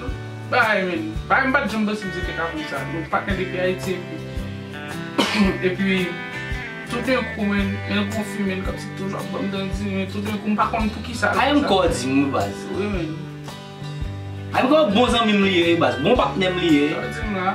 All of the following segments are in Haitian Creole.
Nou bay men. Bay m pat janm danse mizik e kapon sa. Nou pa knnen depi Ayiti epi. Epi toudenkou men men l konfime l kòmsi toujou ap banm dan di men toudenkou m pa konn poukisa l fè sa. Ayim kò di m wi baz. Wi men. Ayim kò bon zanmi m li ye wi baz. Bon patnè m li ye. Sa w di m la.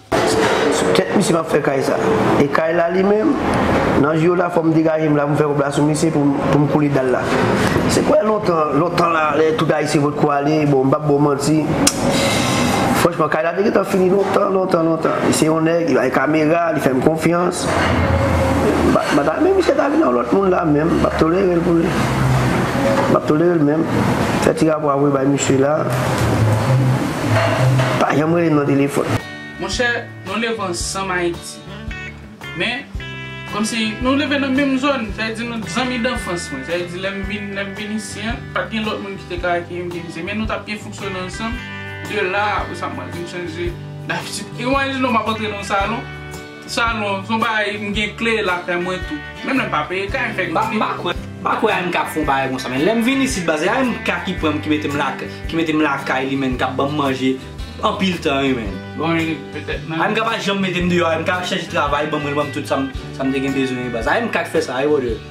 Sou tèt misye map fè kay sa. E kay la li menm? Nan jou yo la fòm degajem la poum fè kob la sou misye poum koule dal la. Se kwè lontan, lontan la lè tout ayisyen potko ale bon mpap baw manti franchman kay la te gentan fini lontan lontan lontan li se yon nèg li bay kamera li fèm konfyans mta menm misye ta vin yon lòt moun la menm map tolerel pou li map tolerel menm fè ti rapò a voye bay misye la. Pa janm rele m nan telefòn. Monchè, nou leve ansanm Ayiti. Men, kòmsi nou leve nan menm zòn, sa vle di nou zanmi danfans mwen. Sa vle di lè m vin isi an, pa t gen lòt moun ki te ka akeyi m vin isi. Men nou t ap byen fonksyone ansanm. De la, apre sa mwen vin chanje dabitid. Imajine w m ap antre nan yon salon. Salon son bagay m gen kle la kay mwen tou menm lèm pa peye kay m fè kle. M pa kwè AMK ap fè yon bagay konsa men lèm vin isit baz se AMK ki pranm ki metem lakay ki metem lakay li menn kap banm manje anpil tan wi menn. Bon e petèt nan. AMK pa janm metem deyò AMK ap chèche travay banm mwen li banm tout sam te gen bezwen wi baz AMK ki fè sa wi brother.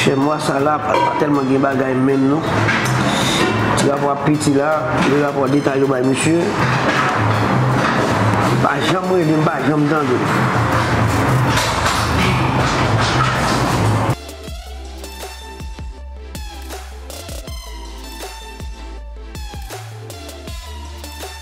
Chè mwa sa la pa tèlman gen bagay menm non. Ti rapò ap piti la, de rapò deta yo bay misye. Li pa janm rele, m pa janm tande l.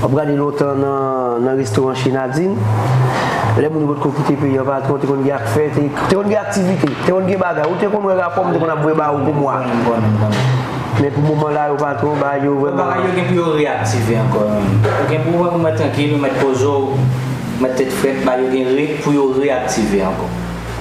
Wap gade lontan nan restoran chez Nadine, lè moun yo potko kite peyi an patron te konn gen afè, te konn gen aktivite, te konn gen bagay, ou te konn wè rapò m te konn ap voye ba ou pou mwa. Men pou moman la yo patron bagay yo vrèman. Bagay yo gen pou yo reaktive ankò wi. Ou gen pou wè ou mèt trankil, ou mèt poze w, ou mèt tèt frèt, bagay yo gen pou yo reaktive ankò.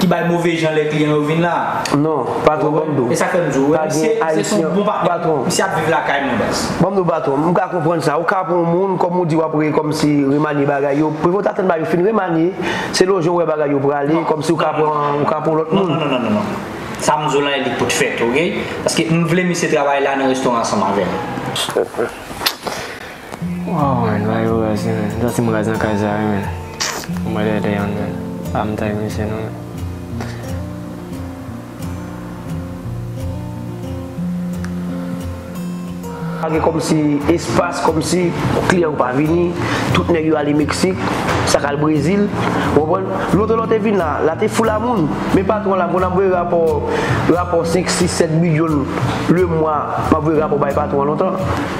ki bay move jan lè kliyan yo vin la a. Non, patwon, ban m di w. E sa k fè m di w, wè, misye, misye se yon bon patwon. Misye ap viv lakay mwen, baz. Ban m di w, patwon, m ka konprann sa. Ou ka pran yon moun, kòm ou di w ap re, kòmsi, remanye bagay yo. Prevòt atann bagay yo fin remanye, se lò jan ou wè bagay yo prale, kòmsi ou ka pran, ou ka pran yon lòt moun. Non, non, non, non, non, non. Sa m di w la a, li pot fèt, oke? Paske m vle misye travay la a nan restoran ansanm avè m. Waw man bagay yo raz wi man Jan team raz nan kay sa wi man Bon bagay the young man Pa mnmtay mesye non man Pa gen kòmsi espas kòmsi kliyan yo pa vini tout nèg yo ale meksik sak al brezil ou konprann lotè lò te vin la la te fou la moun men patron la konn ap voye rapò rapò 5 6 7 milyon lemwa map voye rapò bay patron an lontan.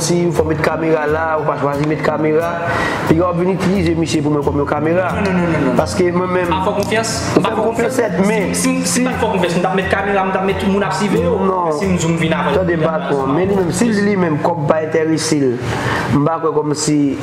Si ou fè met kamera la ou pa chwazi met kamera piga wap vin itilize misye pou mwen kòm yon kamera paske mwen menm Fò konfyans Ou fèm konfyans sèt men Si m pat fò konfyans m tap met kamera m tap met tout moun ap sivew si m di w m vin avèw Tande patwon men li menm si l di li menm kòb pa entèresel m pa kwè kòmsi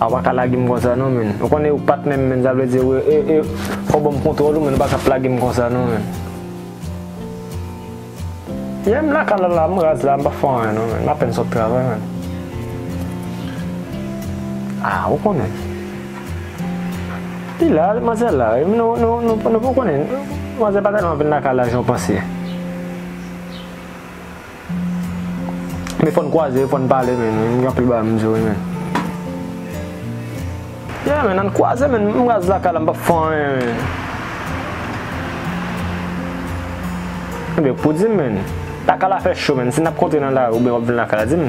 Ah ou paka lagem konsa non menn ou konnen ou pat menm menn sa vle di e fò banm kontwòl ou menn ou paka ap lagem konsa non menn Yeah m lakay la la m raz la m pa fè anyen non menn m apèn sot travay menn Ah ou konnen li la manzè la wi nou nou konnen manzè pa tèlman vin lakay la jan w panse. Men fòn kwaze fòn pale men wi gen anpil bagay m di wi men Yeah men ann kwaze men m raz lakay la m pap fè anyen men Ebyen pou di m men lakay la fè cho men si nap kontre nan lari oubyen wap vin lakay la di m.